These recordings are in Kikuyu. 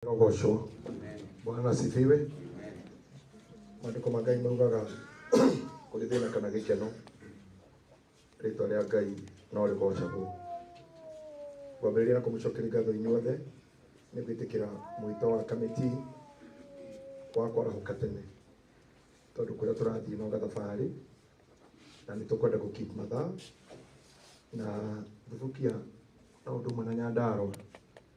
Rogoshwa. Bwana asifiwe. Maandiko ma Ngai maugaga kũrĩ thĩna kana gĩkeno rĩtwa rĩa Ngai no rĩgocagwo. Ngwambĩrĩria na kũmũcokeria ngatho inyuothe nĩ gwĩtĩkĩra mwĩto wa kamĩtĩ wa kwarahũka tene tondũ kũrĩa tũrathiĩ no gathabarĩ na nĩ tũkwenda gũ keep mathaa na thubukia na ũndũ ũmwe na Nyandarua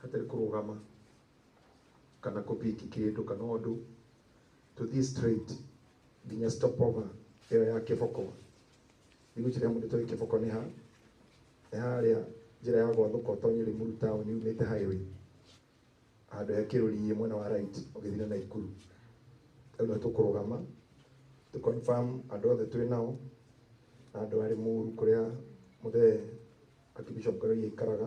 hatarĩ kũrũgama kana kũbiki kĩndũ kana ũndũ tũthiĩ straight nginya stopover ĩyo ya kĩboko nĩ gũkĩrĩa mũndũ toĩ kĩboko nĩ ha nĩ harĩa njĩra ya gwathũka ũtonye Limuru town yumĩte highway handũ he kĩrũriĩ mwena wa right ũgĩthiĩ na Naikuru rĩu nĩ tũkũrũgama tũ confirm andũ othe twĩ nao na andũ a Limuru kũrĩa mũthee Archbishop Karoiya aikaraga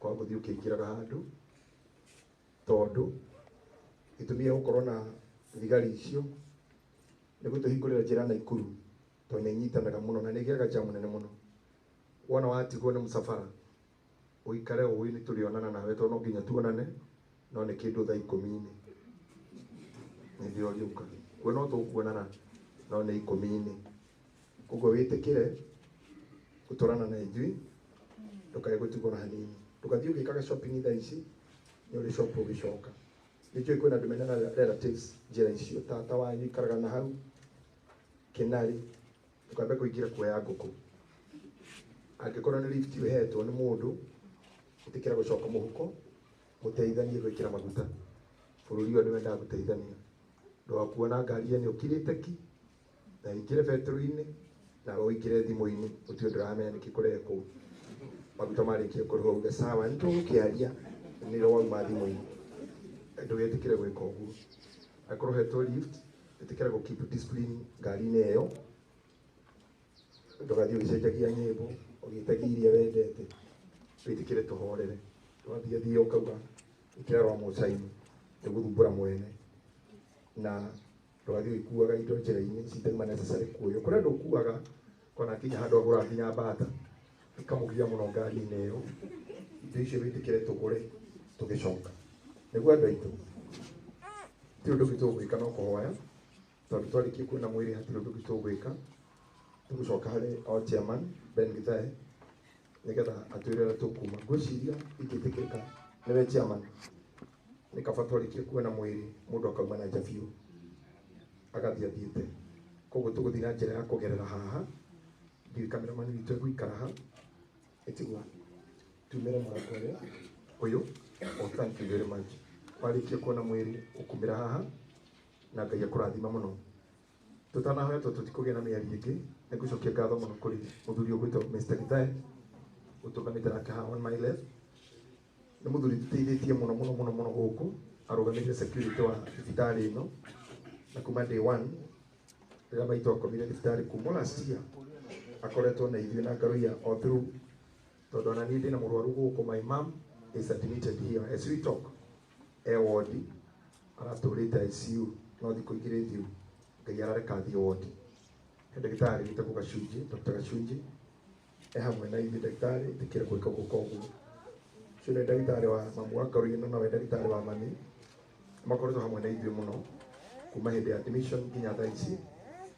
kwa gũthiĩ ũkĩingĩraga handũ tondũ gĩtũmi gĩa gũkorwo na thigari icio nĩ gũtũhingũrĩra njĩra Naikuru tondũ nĩ inyitanaga mũno na nĩ ĩgĩaga jam nene mũno. Wona watigwo nĩ mũcabara ũikare ũĩ nĩ tũrĩonana nawe tondũ no nginya tuonane no nĩ kĩndũ thaa ikũmi-inĩ nĩrĩo ũrĩũka. Kuo no tũkuonana no nĩ ikũmi-inĩ. koguo wĩtĩkĩre gũtwarana na ithuĩ ndũkae gũtigwo na hanini ndũgathiĩ ũgĩkaga shopping thaa ici nĩ ũrĩ shop ũgĩcoka nĩ njũĩ kwĩna andũ mena rela- relatives njĩra icio tata wanyu ikaraga na hau kĩnarĩ ndũkambe kũingĩra kuoya ngũkũ angĩkorwo nĩ lift ũhetwo nĩ mũndũ ĩtĩkĩra gũcoka mũhuko mũteithanie gwĩkĩra maguta bũrũri ũyũ nĩ wendaga gũteithania ndũgakuona ngari ĩyo nĩ ũkirĩte ki na wĩkĩre betũrũ-inĩ na ũwĩkĩre thimũ-inĩ ũtue ndũramenya nĩkĩ kũrekwo maguta marĩkie kũrĩhwo uge sawa nĩ tũgũkĩaria nĩrĩo wauma thimũ-inĩ ndũgetĩkĩre gwĩka ũguo akorwo hetwo lift ĩtĩkĩra gũ keep discipline ngari-inĩ ĩyo ndũgathiĩ ũgĩcenjagia nyĩmbo ũgĩtagia iria wendete wĩtĩkĩre tũhorere ndũgathiĩ thiĩ ũkauga ĩkĩra rwa mũcainĩ nĩgũthumbũra mwene na rwagĩ ikuaga indo njĩra-inĩ citarĩ ma necessary kuoyo kũrĩ andũ ukuaga kona akinya handũ agũra nginya mbata ĩkamũgia mũno ngari-inĩ ĩyo indo icio wĩtĩkĩre tũgũre tũgĩcoka nĩguo andũ aitũ ti ũndũ ũngĩ tũgwĩka no kũhoya tondũ twarĩkia kuona mwĩrĩ hatirĩ ũndũ ũngĩ tũgwĩka tũgũcoka harĩ o chairman Ben Githae nĩgetha atwĩre ũrĩa tũkuma ngwĩciria ingĩtĩkĩka nĩwe chairman nĩ kaba twarĩkie kuona mwĩrĩ mũndũ akauma na nja biũ agathiĩ athiĩte koguo tũgũthiĩ na njĩra ya kũgerera haha ndiũĩ kameramani witũ egũikara ha ĩtigua tumĩre mũrango ũrĩa ũyũ o thank you very much warĩkia kuona mwĩrĩ ũkumĩra haha na ngai akũrathima mũno tutanahoya tondũ tũtikũgĩa na mĩario ĩngĩ nĩ gũcokia ngatho mũno kũrĩ mũthuri ũgwĩtwo Mr. Githai ũtũgamĩte nake haha on my left nĩ mũthuri tũteithĩtie mũno mũno mũno mũno gũkũ arũgamĩrĩire security wa thibitarĩ ĩno na kuma day one rĩrĩa maitũ akomire thibitarĩ kuma last year akoretwo na ithuĩ na ngaroia o through tondũ ona niĩ ndĩna mũrwaru gũkũ my mom is admitted here as we talk e wondi aratũrĩte ICU no thikũ igĩrĩ thiru ngai arareka athiĩ wondi he ndagĩtarĩ wĩtagwo gacunjĩ dr gacunjĩ e hamwe na ithuĩ ndagĩtarĩ tĩkĩre gwĩka gũka ũguo ũcio nĩ ndagĩtarĩ wa mamu wa karũi no nawe ndagĩtarĩ wa mami makoretwo hamwe na ithuĩ mũno kuma hĩndĩ ya admission nginya thaa ici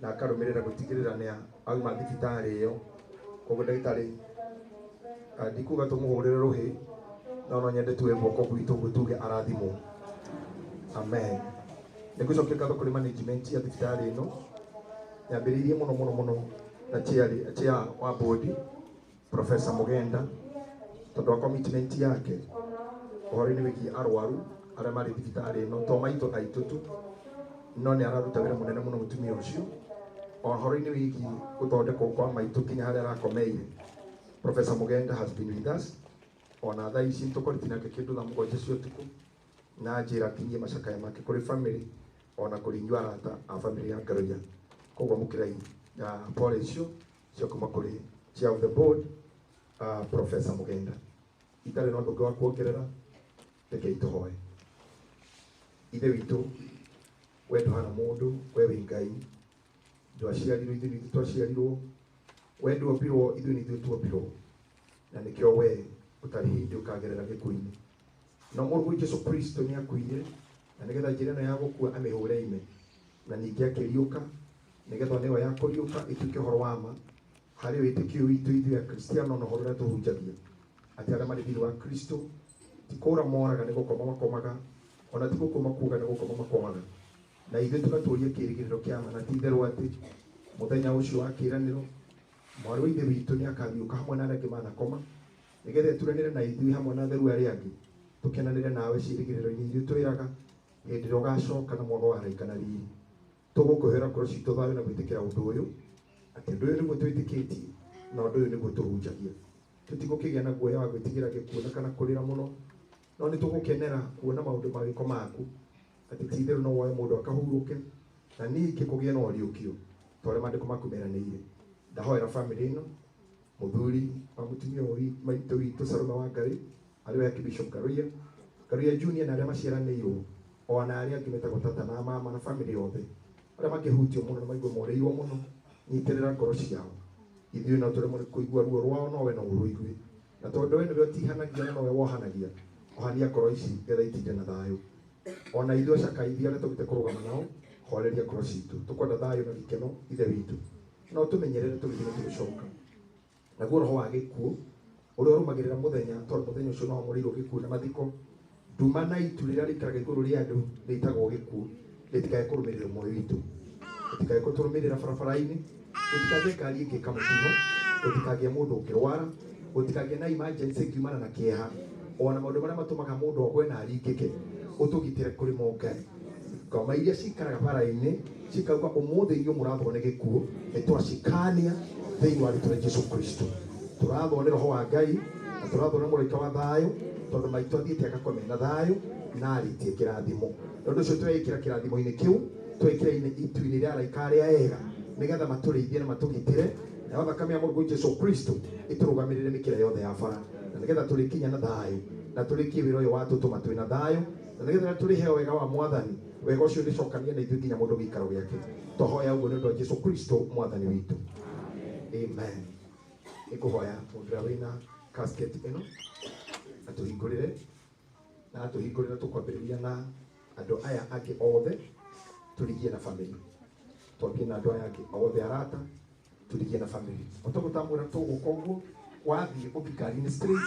na akarũmĩrĩra gũtigĩrĩra nĩ auma thibitarĩ ĩyo koguo ndagĩtarĩ ah, ndikuga tũmũhũrĩre rũhĩ no no nyende tuwe guoko gwitũ ũguo tuge arathimwo amen nĩ gũcokia ngatho kũrĩ management ya thibitarĩ ĩno yambĩrĩirie mũno mũno mũno na chairĩ- chair wa bodi Professor Mugenda tondå wa commitment yake ũhoro-inĩ wĩgiĩ arwaru arĩa marĩ thibitarĩ ĩno to maitũ aitũ tu no nĩ araruta wĩra mũnene mũno mũtumia ũcio ũhoro-inĩ wĩgiĩ gũthondekwo kwa maitũ nginya harĩa arakomeire Professor Mugenda has been with us ona thaa ici tũkorĩtie nake kĩndũ thaa mũgwanja cia ũtukũ na njĩra kinyie macakaya make kũrĩ bamĩrĩ ona kũrĩ inyuĩ arata a bamĩrĩ ya Ngaroiya koguo mũkĩrai ya pole icio cia kuma kuri chair of the board uh, professor mugenda itari na ndungi wa kuongerera reke ituhoe ithe witũ we ndũhana mũndũ we wĩ ngai ndwaciarirwo ithuĩ nithu twaciarirwo we ndwombirwo ithuĩ nithuĩ tuombirwo na nĩkĩo we ũtarĩ hĩndĩ ũkagerera gĩkuũ-inĩ no mũrũmu jesu kristo nĩ akuire na nĩgetha njĩra ĩno ya gũkua amĩhũre ime na ningĩ akĩriũka nĩgetha ona ĩyo ya kũriũka ĩtuĩke ũhoro wa ma harĩ wĩtĩkio witũ ithuĩ akristiano na ũhoro ũrĩa tũhunjagia atĩ arĩa marĩ thĩinĩ wa kristo ti kũũra moraga nĩ gũkoma makomaga ona ti gũkua makuaga nĩ gũkoma makomaga na ithuĩ tũgatũũria kĩĩrĩgĩrĩro kĩa ma na ti itherũ atĩ mũthenya ũcio wa kĩĩranĩro mwarĩ wa ithe witũ nĩ akariũka hamwe na arĩa angĩ manakoma nĩgetha ĩturanĩre na ithuĩ hamwe na atheru arĩa angĩ tũkenanĩre nawe ciĩrĩgĩrĩro-inĩ ithuĩ twĩraga hĩndĩ ĩrĩa ũgacoka na mwana wa araika na riri tũgũkũhera ngoro citũ thayũ na gwĩtĩkĩra ũndũ ũyũ atĩ ũndũ ũyũ nĩguo twĩtĩkĩtie na ũndũ ũyũ nĩguo tũhunjagia tũtigũkĩgĩa na guoya wa gwĩtigĩra gĩkuona kana kũrĩra mũno no nĩ tũgũkenera kuona maũndũ ma gĩko maku atĩ ti itherũ no woe mũndũ akahurũke na ningĩ kũgĩe na ũriũkio ta ũrĩa maandĩko maku meranĩire ndahoera bamĩrĩ ĩno Mũthuri wa mũtumia ũyũ wi- maitũ witũ Saruma wa Ngarĩ, arĩ we Archbishop Karuia, Karuia Junior na arĩa maciaranĩirwo, o na arĩa angĩ metagwo tata na mama na family yothe, arĩa makĩhutio mũno na maigua moreirwo mũno, nyitĩrĩra ngoro ciao. Ithuĩ no tũremwo nĩ kũigua ruo rwao, no we no ũrũigue. Na tondũ we nĩwe ũtihanagia na nowe wohanagia, ohania ngoro ici getha itinda na thayũ. O na ithuĩ acakaithia arĩa tũgĩte kũrũgama nao, horeria ngoro citũ. Tũkwenda thayũ na gĩkeno, Ithe witũ. no tũmenyerere tũgĩthiĩ na tũgĩcoka naguo roho wa gĩkuũ ũrĩa ũrũmagĩrĩra mũthenya tondũ mũthenya ũcio no wamũrĩirwo gĩkuũ na mathiko nduma na itu rĩrĩa rĩikaraga igũrũ rĩa andũ rĩtagwo gĩkuũ rĩtikae kũrũmĩrĩra moyo witũ rĩtikae kũtũrũmĩrĩra barabara-inĩ gũtikagĩe ngari ĩngĩka mũtino gũtikagĩe mũndũ ũngĩrwara gũtikagĩe na emergency ĩkiumana na kĩeha ona maũndũ marĩa matũmaga mũndũ ogwe na aringĩke ũtũgitĩre kũrĩ mo ngai ngoma iria cikaraga bara-inĩ cikauga ũmũthĩ inyuĩ mũrathwo nĩ gĩkuũ nĩ twacikania thĩinĩ wa rĩtwa rĩa jesu kristo tũrathwo nĩ roho wa ngai na tũrathwo nĩ mũraika wa thayũ tondũ maitũ athiĩte agakome na thayũ na arĩtie kĩrathimo nĩ ũndũ ũcio tweĩkĩra kĩrathimo-inĩ kĩu tweĩkĩra-inĩ itu-inĩ rĩa araika arĩa ega nĩgetha matũrĩithie na matũgitĩre nayo thakame ya mũrũgũ jesu kristo ĩtũrũgamĩrĩre mĩkĩra yothe ya bara na nĩgetha tũrĩkinya na thayũ na tũrĩkie wĩra ũyũ watũtũma twĩ na thayũ na nĩgetha tũrĩheo wega wa mwathani wega ũcio ũrĩcokanie na ithuĩ nginya mũndũ gĩikaro gĩake tũhoya ũguo nĩ ũndũ wa jesu kristo mwathani witũ amen nĩ kũhoya mũndũ ũrĩa wĩna casket ĩno atũhingũrĩre na atũhingũrĩra tũkwambĩrĩria na andũ aya angĩ othe tũrigie na famĩlĩ twambie na andũ aya angĩ othe arata tũrigie na famĩlĩ ũtagũtambũra tũgũka ũguo wathiĩ ũthikari-inĩ straight